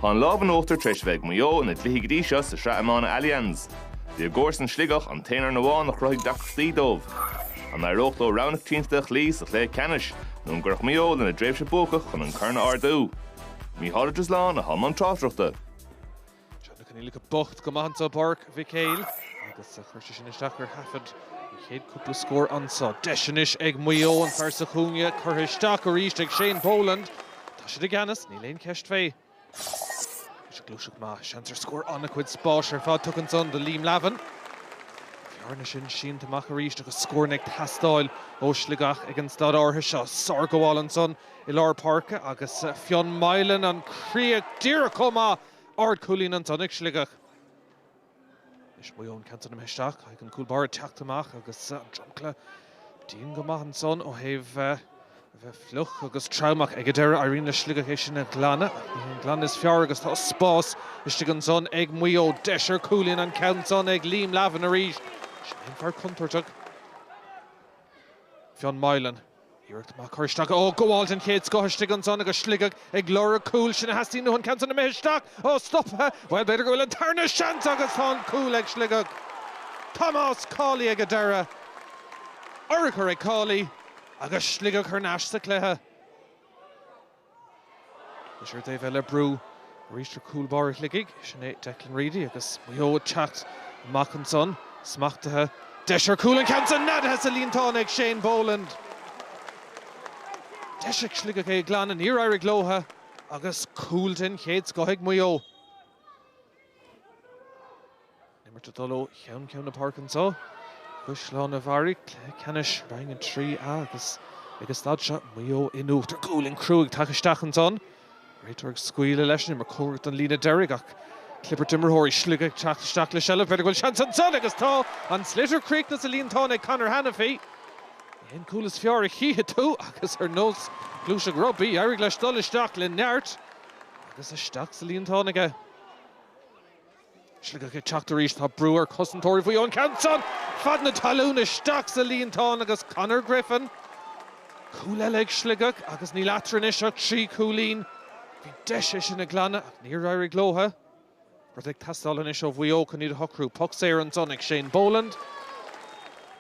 Tá an lámh in uachtar tar éis a bheith ag Maigh Eo ina gcluichí go dtí seo sa Sraith Iomána Allianz. Bhí a gcomharsan Sligeach an t-aon fhoireann amháin a chruthaigh deacrachtaí dóibh. An éireodh leo rogha na coitiantachta a chloí sa chluiche ceannais nó an gcuirfeadh Maigh Eo lena dtréimhse buacach chun an corn a ardú? Micheál Ó Drisleáin, atá i mbun tráchtaireachta. Tá na coinníollacha bocht go maith anso i bPáirc Mhic Éil agus chuir sé sin isteach ar thaifead an chéad chúpla scór anso. Deis anois ag Maigh Eo, an fear sa chúinne curtha isteach arís ag Shane Boland. Tá siad i gceannas, níl aon cheist fé. Anois gluaiseacht mhaith, seans ar scór, an-chuid spáis ar fad tugtha anso do Liam Lavin. Bearna sin sínte amach arís agus scóranna ag teastáil ó Shligeach ag an staid áirithe seo. Sárghabháil anso i lár páirce agus Fionn Moylan, an chríoch díreach chomh maith! Ard-chúilín ansan ag Sligeach. Anois Maigh Eo an ceann san imithe isteach, caithfidh an cúl báire teacht amach agus an dromchla dian go maith ansan ó thaobh a bheith fliuch agus tromach. Ag an deireadh éiríonn le Sligeach é sin a ghlanadh, ach ní haon glanadh is fearr agus tá spás istigh ansan ag Maigh Eo. Deis ar chúilín, an ceann san ag Liam Lavin arís. Sin é an fear contúirteach, Fionn Moylan. Iarracht mhaith curtha isteach ó gabháil den chéad scoth istigh ansan agus Sligeach ag lorg cúil. Sin a theastaíonn uathu, an ceann san imithe isteach ó stoptha. Bhuel, b'fhéidir go bhfuil an tarna seans agus tá an cúl ag Sligeach. Tomás Cawley ag an deireadh. Urchar ag Cawley agus Sligeach thar n-ais sa chluiche. Anois ar an dtaobh eile brú arís ar chúl báire Shligigh, sin é Declan Reidy agus Maigh Eo ag teacht amach ansan, smachtaithe. Deis ar chúl an ceann seo, neadaithe sa líontán ag Shane Boland. Deis ag Sligeach é a ghlanadh, níor éirigh leo agus cúl den chéad scoth ag Maigh Eo. Imirt ag dul ó cheann ceann na páirce anseo. Caisleán an Bharraigh, cluiche ceannais Roinn 3A agus ag an staid seo Maigh Eo in uachtar. Cú Uladh an crú ag teacht isteach ansan. Réiteoir ag scaoileadh leis an imirt cóngarach don líne deiridh ach clibirt imreoirí Shligigh ag teacht isteach le seilbh. B'fhéidir go bhfuil seans ansan agus tá! An sliotar críochnaithe sa líontán ag Conor Hannify. Ní haon cúl is fearr a chífidh tú agus ar nós gluaiseacht rugbaí d'éirigh leis dul isteach le neart agus isteach sa líontán aige. Sligeach ag teacht arís. Tá brú ar chosantóirí Mhaigh Eo an ceann san fad na talún isteach sa líontán agus Conor Griffin. Cúl eile ag Sligeach agus níl eatarthu anois ach trí chúilín. Bhí deis é sin a ghlanadh ach níor éirigh leo. Rud ag teastáil anois ó Mhaigh Eo chun iad a shocrú, poc saor ansan ag Shane Boland.